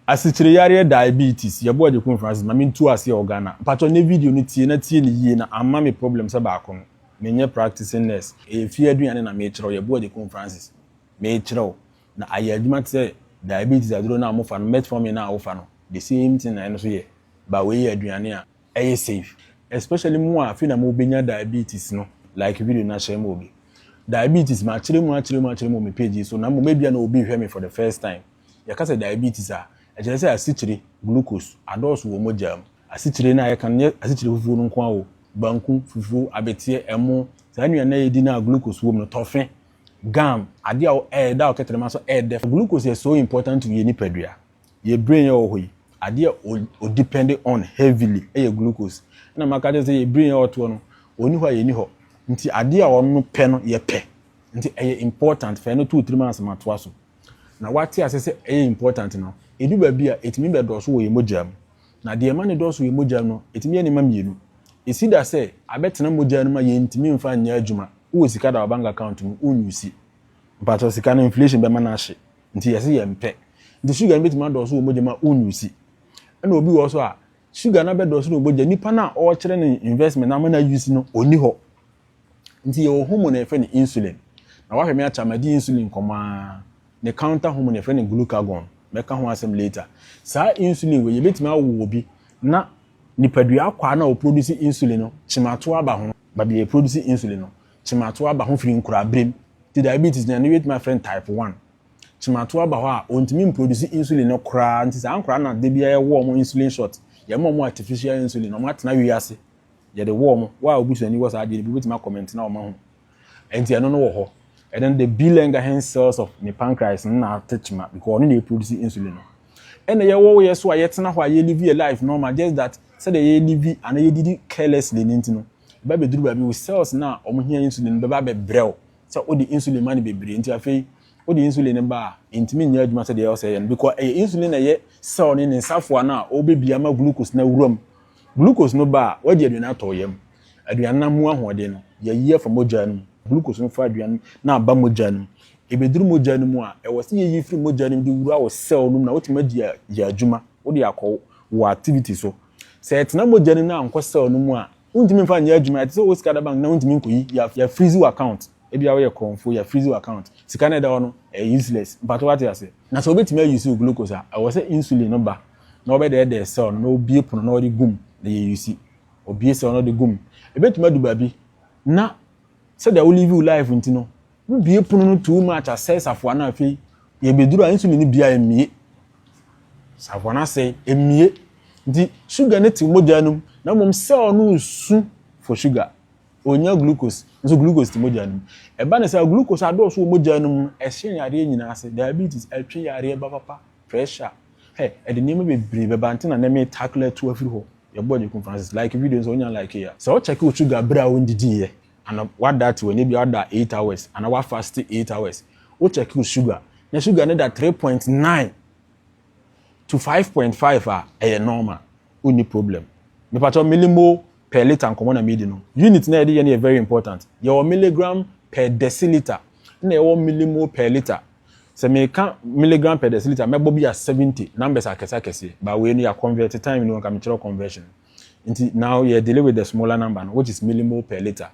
Asikyire yareɛ diabetes yɛbɔ Agyekum Francis ma mentu aseɛ wɔ Ghana mpakyɛ nɛ video no tie na tie no yie na amma me problem sɛ baako no menyɛ practicing nurse ɛyɛ fie aduane na mekyerɛw yɛbɔ Agyekum Francis mekyerɛw na ayɛ adwuma te sɛ diabetes aduro no a mofa no metformin no a wofa no the same thing na ɛno nso yɛ ba wei yɛ aduane a ɛyɛ safe especially mo a afei na mo bɛnya diabetes no like video na share ma obi diabetes ma akyerɛ mu akyerɛ mu akyerɛ mu me page so na mo mebia na obi hwɛ me for the first time yɛka sɛ diabetes a ɛkyerɛ sɛ asikyire glucose adɔɔso wɔ mogya mu asikyire no a yɛka no nyɛ asikyire fufuo no nko ara o banku fufuo abeteɛ ɛmo saa nnuane a yɛdi no a glucose wɔ mu no tɔfe gum adeɛ a ɛda ɔkɛtrɛma so ɛdɛ glucose yɛ so important to yɛ nipadua yɛ brain yɛ wɔ hɔ yi adeɛ a o depend on heavily yɛ glucose ɛna maka kyerɛ sɛ yɛ brain yɛ ɔtoɔ no ɔni hɔ a yɛni hɔ nti adeɛ a ɔno pɛ no yɛ pɛ nti ɛyɛ important fɛ no to tirim ansa ma toa so na wate ase sɛ ɛyɛ important no edu baabi a etumi bɛ dɔɔso wɔ yɛn mogya mu na deɛ ɛma ne dɔɔso wɔ yɛn mogya mu no etumi yɛ nneɛma mmienu esi da sɛ abɛtena mogya no mu a yɛntumi mfa nyɛ adwuma wɔ sika da wɔ bank account mu wonyusi mpatɔ sika no inflation bɛma no ahye Nti yɛse yɛmpɛ. Nti sugar no bɛtumi adɔɔso wɔ mogya mu a wonuse. Ɛna obi wɔ hɔ so a, sugar no abɛdɔɔso no wɔ mogya, nipa no a ɔrekyerɛ no investment no ama no ayuse no, ɔnni hɔ. Nti yɛwɔ hormone a yɛfrɛ no insulin. Na woahwɛ me akyɛ a madi insulin nkɔmmɔ ara. Ne counter hormone yɛfrɛ no glucagon. Mɛka ho asɛm later. Saa insulin wei, yɛbɛtumi awo obi na nipadua akwaa no a ɔproduce insulin no, kyemato aba ho. Baabi a yɛproduce insulin no, Kyemato aba ho firi nkoraberem, nti diabetes no, ɛno yɛbɛtumi afrɛ no type one. Kyemato aba hɔ a, wɔntumi mproduce insulin no koraa, nti saa nkwadaa no na da biara yɛwɔ wɔn insulin shot, yɛma wɔn artificial insulin, wɔatena wiase, yɛde wɔ wɔn. Wo a wobusua ni wɔ saa adeɛ no bi, wobɛtumi akɔmɛnte na wɔahu. Nti ɛno no wɔ hɔ. And then the B. Langerhans cells of ne pancreas no na ate kyema, because ɔno na ɛproduce insulin no. Ɛna yɛwɔ wo yɛ so a, yɛtena hɔ a, yɛlive yɛ life normal, just that sɛdeɛ yɛlive anaa yɛdidi carelessly no nti no, Ɛba bɛduru baabi, wo cells no a wɔhia insulin no bɛba abɛbrɛ wo sɛ wode insulin ma no bebree nti afei wode insulin no ba a, ɛntumi nyɛ adwuma sɛdeɛ ɛwɔ sɛ ɛyɛ no because ɛyɛ insulin na ɛyɛ cell no ne nsafoa no a ɔrebɛbi ama glucose no awura mu. Glucose no ba a, wadi aduane atɔ wo yam. Aduane no amu ahoɔden no, yɛyi afa mogya no mu. Glucose no fa aduane no aba mogya no mu. Ɛbɛduru mogya no mu a, ɛwɔ sɛ yɛyi firi mogya no mu de wura wo cell no mu na wotumi adi ayɛ adwuma, wode akɔ wɔ activity so. Sɛ ɛtena mogya no mu na ankɔ cell no mu a, wontumi mfa nyɛ adwuma. Ɛte sɛ wowɔ sika da bank na wontumi nkɔyi, yɛ freeze wo account. Ebia woyɛ korɔmfo, yɛ freeze wo account. Sika no a ɛda hɔ no, ɛyɛ useless. Mpakyɛ woate ase? Na sɛ wobɛtumi a use wo glucose a, ɛwɔ sɛ insulin no ba na wɔbɛdɛɛdɛɛ cell no na wɔbue pono na wɔde gum na yɛ use. Wɔbue cell no de gum. Ɛbɛtumi adu baabi na sɛdeɛ wo live wo life nti no, Wo bue pono no too much asɛe safoa no afei yɛ bɛduru a insulin no bia ɛmmie. Safoa no asɛe, ɛmmie. Nti sugar no te mogya no mu na mmom cell no resu for sugar. Ɔnnya glucose nso glucose te mogya no mu. Ɛba no saa glucose adɔɔso wɔ mogya no mu no ɛhye yareɛ nyinaa ase, diabetes, ɛtwe yareɛ ba papa, pressure, hɛ ɛde nneɛma bebree bɛba nti na nɛ me tackle atu afiri hɔ. Yɛboa Gyekum Francis. Like video no sɛ wonya like a. Sɛ wo check wo sugar berɛ a wondidiiɛ ana wada te w'ani bi ada eight hours ana wa fast eight hours wo check wo sugar na sugar ne da three point nine to five point five a ɛyɛ normal wo ni problem mepatɔ milimo per liter nkɔmɔ na medi no unit na yɛde yɛ no yɛ very important yɛwɔ milligram per deciliter na yɛwɔ milimo per liter sɛ meka milligram per deciliter mɛbɔ bi a seventy numbers akɛse akɛseɛ ba wei no yɛ convert time no nka mekyerɛ conversion Nti now yɛ dealing with the smaller number no which is millimole per liter.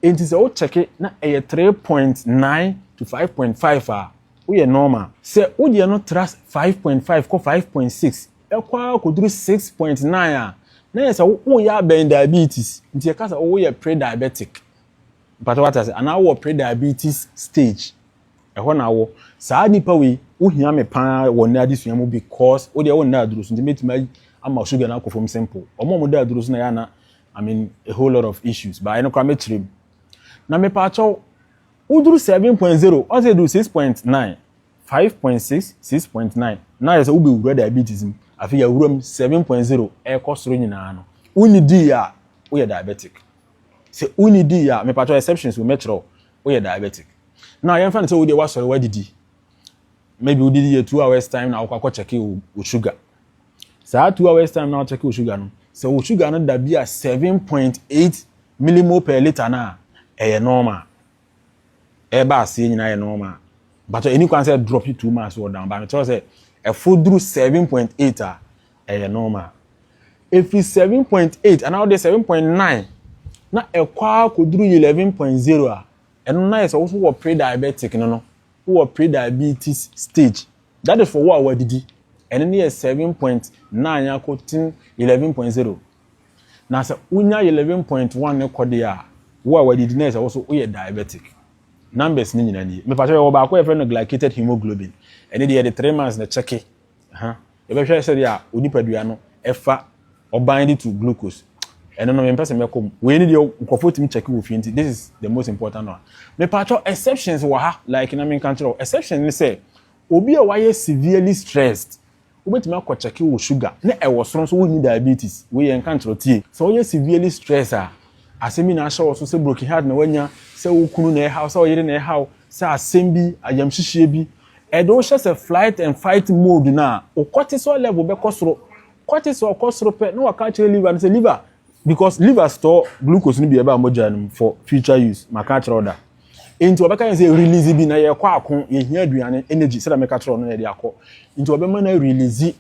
Nti sɛ wo check na ɛyɛ 3.9 to 5.5 a woyɛ normal. Sɛ wo deɛ no tra 5.5 kɔ 5.6 ɛkɔ ara kɔduru 6.9 a na yɛ sɛ woyɛ abɛn diabetes. Nti yɛka sɛ woyɛ pre-diabetic. Mpatɛ wate ase anaa wowɔ pre-diabetes stage. Ɛhɔ na awɔ. Saa nipa wei, wo hia me paa wɔ nnɛ adesua mu because wo deɛ wo nna aduro so nti mɛtumi ama sugar no akɔ fam simple. Wɔn a wɔda aduro so na yɛ ana I mean a whole lot of issues but ɛno koraa mɛkyerɛ mu. Na mepa akyɛw woduru 7.0 ɔn sɛ ɛduru 6.9 5.6 6.9 na ayɛ sɛ wobɛwura diabetes mu afei yɛawura mu 7.0 ɛrekɔ soro nyinaa no wonni dii a woyɛ diabetic sɛ wonni dii a mepa akyɛw exceptions wɔ mɛkyerɛ wo woyɛ diabetic na yɛmfa no sɛ wodeɛ woasɔre woadidi maybe wodidi yɛ two hours time na wokɔ akɔkyɛke wo sugar saa two hours time na wokyɛke wo sugar no sɛ wo sugar no da bi a seven point eight millimole per litre no a ɛyɛ normal ɛba aseɛ nyinaa yɛ normal but ɛni kwan sɛ drop too much wɔ down ba mekyerɛ sɛ ɛfo duru seven point eight a Ɛyɛ normal. Efi seven point eight anaa ɔde seven point nine na ɛkɔ ara kɔduru eleven point zero a, ɛno na yɛ sɛ woso wɔ pre-diabetic no no, wowɔ pre-diabetes stage. That is for wo a wadidi. Ɛno ne yɛ seven point nine akɔ ten eleven point zero. Na sɛ wonya eleven point one ne kɔ deɛ a, wo a wadidi na yɛ sɛ woso woyɛ diabetic. Numbers ne nyinaa nie. Mepakyɛ yɛwɔ baako a yɛfrɛ no glycated hemoglobin. Ɛne deɛ yɛde three months na kyɛke Aha, yɛbɛhwɛ sɛdeɛ a onipadua no ɛfa or bind it to glucose ɛno no mempɛ sɛ mɛkɔ mu wei ne deɛ nkurɔfoɔ tumi kyɛke wɔ fie nti this is the most important one mepatwɔ exceptions wɔ ha like na menka nkyerɛ wo exception ne sɛ obi a wayɛ severely stressed wobɛtumi akɔ kyɛke wɔ sugar ne ɛwɔ soro nso wonni diabetes wei yɛ nka nkyerɛ tie sɛ woyɛ severely stressed a asɛm bi na ahyɛ wɔ so sɛ broken heart na wanya sɛ wo kunu na ɛhaw sɛ ɔyere na ɛhaw sɛ asɛm bi ayamhyehyeɛ bi Ɛde wo hyɛ sɛ flight and fight mode no a, wo cortisol level bɛkɔ soro. Cortisol kɔ soro pɛ na waka akyerɛ liver no sɛ liver because liver store glucose no bi ɛba mogya no mu for future use. Maka akyerɛ wo da. Nti wɔbɛka yɛn sɛ release bi na yɛkɔ ako, yɛhia aduane, energy, sɛdeɛ meka kyerɛ wo no na yɛde akɔ. Nti wɔbɛma no release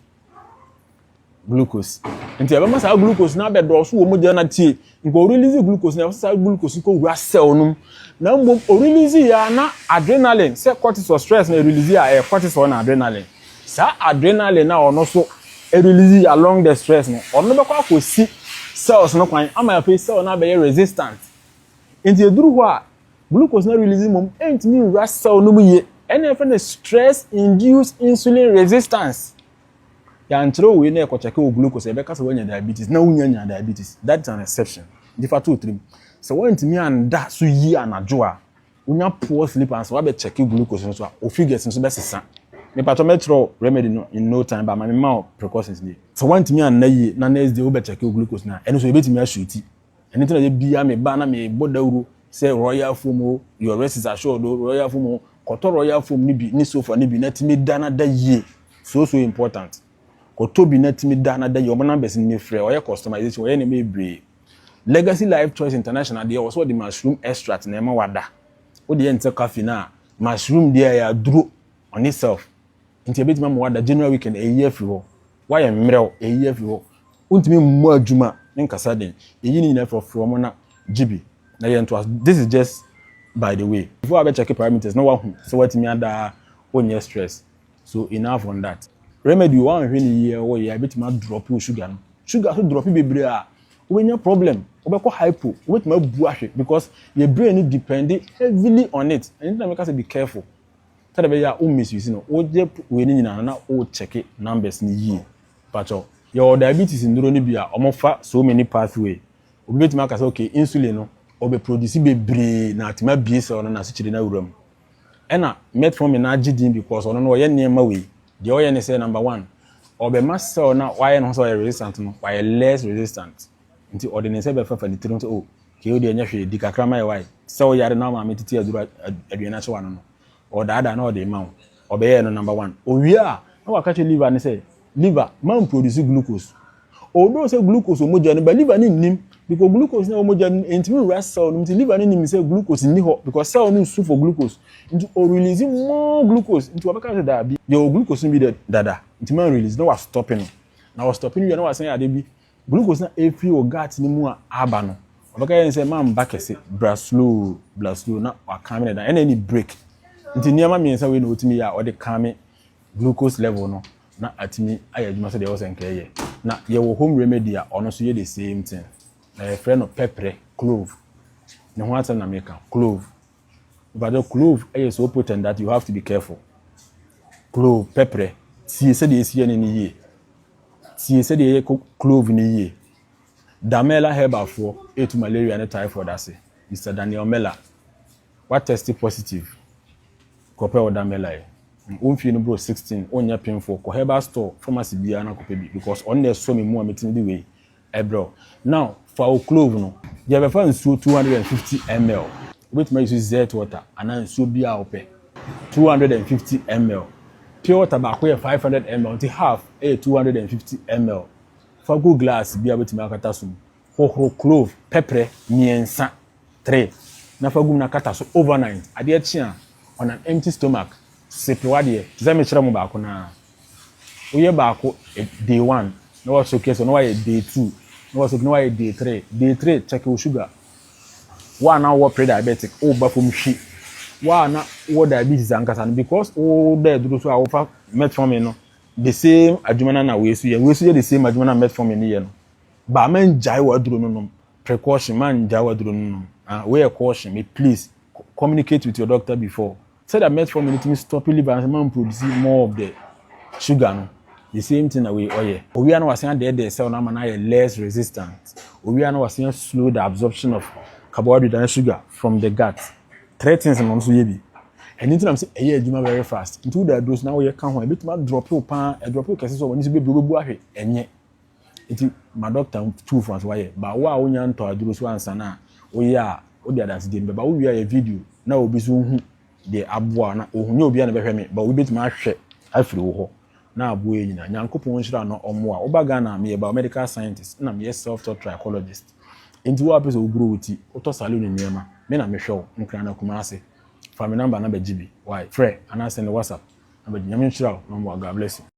glucose. Nti ɛbɛma saa glucose no abɛdɔɔso wɔ mogya na tie. Nka ɔrelease glucose na ɛwɔ sɛ saa glucose kɔ wura cell no mu. Na mmom ɔrelease yɛ a na adrenaline sɛ cortisol stress na ɛrelease a ɛyɛ cortisol na adrenaline. Saa adrenaline na ɔno so ɛrelease along the stress no ɔno bɛkɔ akɔsi cells no kwan ama afei cell no abɛyɛ resistant. Nti ɛduru hɔ a glucose na release mmom ɛntumi nwura cell no mu yie ɛna ɛfɛ no stress induced insulin resistance. Yɛankyerɛw wei na yɛkɔkyɛke wɔ glucose a, yɛbɛka sɛ woanya diabetes na wunnya nyaa diabetes. That is an exception, nti fa to wo tirim. Sɛ woantumi annda so yie anadwo a, wonya poor sleep and sɛ woabɛkyɛke glucose no so a, wo figures no so bɛsesa. Mepakyɛw mɛkyerɛw remedy no in no time but ma memma wo precautions nie. Sɛ woantumi anna yie na next day wobɛkyɛke wo glucose no a, ɛno nso yɛbɛtumi asweeti. Ɛno nti na da biara meba na mebɔ dawuro sɛ Royal Foam o, your rest is assured o, Royal Foam o, kɔtɔ Royal Foam no bi ne sofa no bi na tumi da na da yie, so so important. Kɔtɔ bi na tumi da na da yie, wɔn numbers no ni frɛ, wɔyɛ customization, wɔyɛ nneɛma bebree. Legacy Life Choice International deɛ wɔ sɛ wɔde mushroom extract na ɛma wada. Wodeɛ nsɛ coffee no a, mushroom deɛ ɛyɛ aduro on itself. Nti ebetumi ama wada general weekend eyi afiri hɔ. Wayɛ mmerɛw eyi afiri hɔ. Wontumi mmɔ adwuma ne nkasa den. Eyi ne nyinaa frɔfrɔ wɔn na gye bi na yɛ ntoa so. This is just by the way. Before abɛ check parameters na wahu sɛ watumi ada a wonyɛ stress. So enough on that. Remedy o, woanhwɛ no yie a woyɛ a ebetumi adrɔp wo sugar no. Sugar nso drɔp bebree a wobɛnya problem. Wobɛkɔ hypo, wobetumi abu ahwe because yɛ brain no depend heavily on it. Ɛno nti na meka sɛ be careful. sɛdeɛ ɛbɛyɛ a wo misuse no woyɛ wei no nyinaa na wo check numbers no yie patɔ yɛwɔ diabetes nduro no bi a wɔn fa so many pathway obi betumi aka sɛ okay insulin no ɔbɛ produce bebree na atumi abie cell no na asikyire no awura mu ɛna metformin no agye din because ɔno no ɔyɛ nneɛma wei deɛ ɔyɛ ne sɛ number one ɔbɛma cell no a wayɛ no ho sɛ ɔyɛ resistant no wayɛ less resistant Nti ɔde ne nsa bi afefa ne tirim sɛ, O, kei wo deɛ nyɛ hwee, di kakra ma yɛwae. Te sɛ woyare na wo maame tete aduru a aduane ahyɛ w'ano no, ɔredaadaa na ɔde rema wo. Ɔbɛyɛɛ no number one. Ɔwie a, na waka kyerɛ liver no sɛ, Liver, mamproduce glucose. Although sɛ glucose wɔ mogya no mu, but liver no nnim, because glucose no a ɛwɔ mogya no mu ɛntumi nwura cell no mu, nti liver no nim sɛ glucose nni hɔ, because cell no nsu for glucose, nti ɔrelease more glucose, nti wabɛka sɛ, Daabi, yɛwɔ glucose no bi dada, nti manrelease, na wastope no. Na ɔstope no wie a, na wasan yɛ adeɛ bi, Glucose na ɛfiri wɔ gut no mu a aba no, ɔbɛka yɛn sɛ mamma kɛse, bra slow, bra slow, na wakame no da, ɛna ɛni break. Nti nneɛma mmiɛnsa wei na ɔtumi yɛ a ɔde kame glucose level no na atumi ayɛ adwuma sɛdeɛ ɛwɔ sɛ nka ɛyɛ. Na yɛwɔ home remedy a ɔno nso yɛ the same thing. Na yɛfrɛ no pɛprɛ, clove. Ne ho asɛm na meka, clove. Mpakyɛw clove yɛ so potent that you have to be careful. Clove, pɛprɛ. Tie sɛdeɛ ɛsi yɛne no yie. Tie sɛdeɛ ɛyɛ clove no yie. Damela herbal foɔ ɛtu malaria ne typhoid ase. Mister Daniel Mela. Wa test positive. Kɔpɛ wo Damela yi. Wo mfie no bro 16, wonyɛ pemfoɔ. Kɔ herbal store, pharmacy biara na kɔpɛ bi because ɔno na ɛsɔ me mu a metumi de wei Ɛbrɛw. Now, fa wo clove no, gyae bɛfa nsuo two hundred and fifty ml, wobɛtumi ayi so zert water anaa nsuo biara a wopɛ, two hundred and fifty ml. Pure water baako yɛ five hundred ml nti half yɛ two hundred and fifty ml. Fa gu glass bi a wobɛtumi akata so mu. Hohoro clove, pɛprɛ, mmiɛnsa, three, na fa gu mu na kata so overnight. Adeɛ kye a, on an empty stomach, sipe w'adeɛ te sɛ mekyerɛ mo baako no ara. Woyɛ baako day one na wɔaso kɛsɛ na wɔayɛ day two na wɔaso na wɔayɛ day three day three check wo sugar wo a na wowɔ pre diabetic woba fam hwi wo a na wowɔ diabetes ankasa no because woda aduro so a wofa metformin no the same adwuma no na wei so yɛ wei so yɛ the same adwuma na metformin no yɛ no ba mangyae w'aduro no nom precaution mangyae w'aduro no nom ah wei yɛ caution me please communicate with your doctor before Sɛdeɛ metformin no tumi stop liver no sɛ ɛmma ɛmproduce more of the sugar no, the same thing na wei ɔyɛ. Ɔwie a na wasan adɛɛdɛɛ cell no ama no ayɛ less resistant. Ɔwie a na wasan a slow the absorption of carbohydrate anaa sugar from the gut. Three things na ɔno nso yɛ bi. Ɛno nti na mese ɛyɛ adwuma very fast. Nti woda aduro so na woyɛ ka ho a, ɛbɛtumi adrɔpe wo paa, ɛdrɔpe wo kɛse sɛ w'ani so bɛbire wobɛbu ahwe, ɛnyɛ. Ntsi ma dɔkta ntu wo fo ansa ɔayɛ. Ba wo a wonya ntɔ aduro so ansa na woyɛ a, wode adansegye no bɛba. Wowie a yɛ video na obi so nhu deɛ aboa wo na ohu. Nnyɛ obiara na ɛbɛhwɛ me but obi bɛtumi ahwɛ afiri wo hɔ na aboa yɛn nyinaa. Nyankopɔn nhyira na ɔmmoa. Woba Ghana a, meyɛ biomedical scientist ɛna meyɛ self taught trichologist. Enti wo a wopɛ sɛ woguro wo ti, wotɔ saloon nneɛma, me na mehwɛ wo. Nkrana Kumasi. Fa me number na bɛgye bi. Wai, frɛ anaa sɛnde WhatsApp na bɛgye. Nyame nhyira wo na ɔmmoa. God bless you.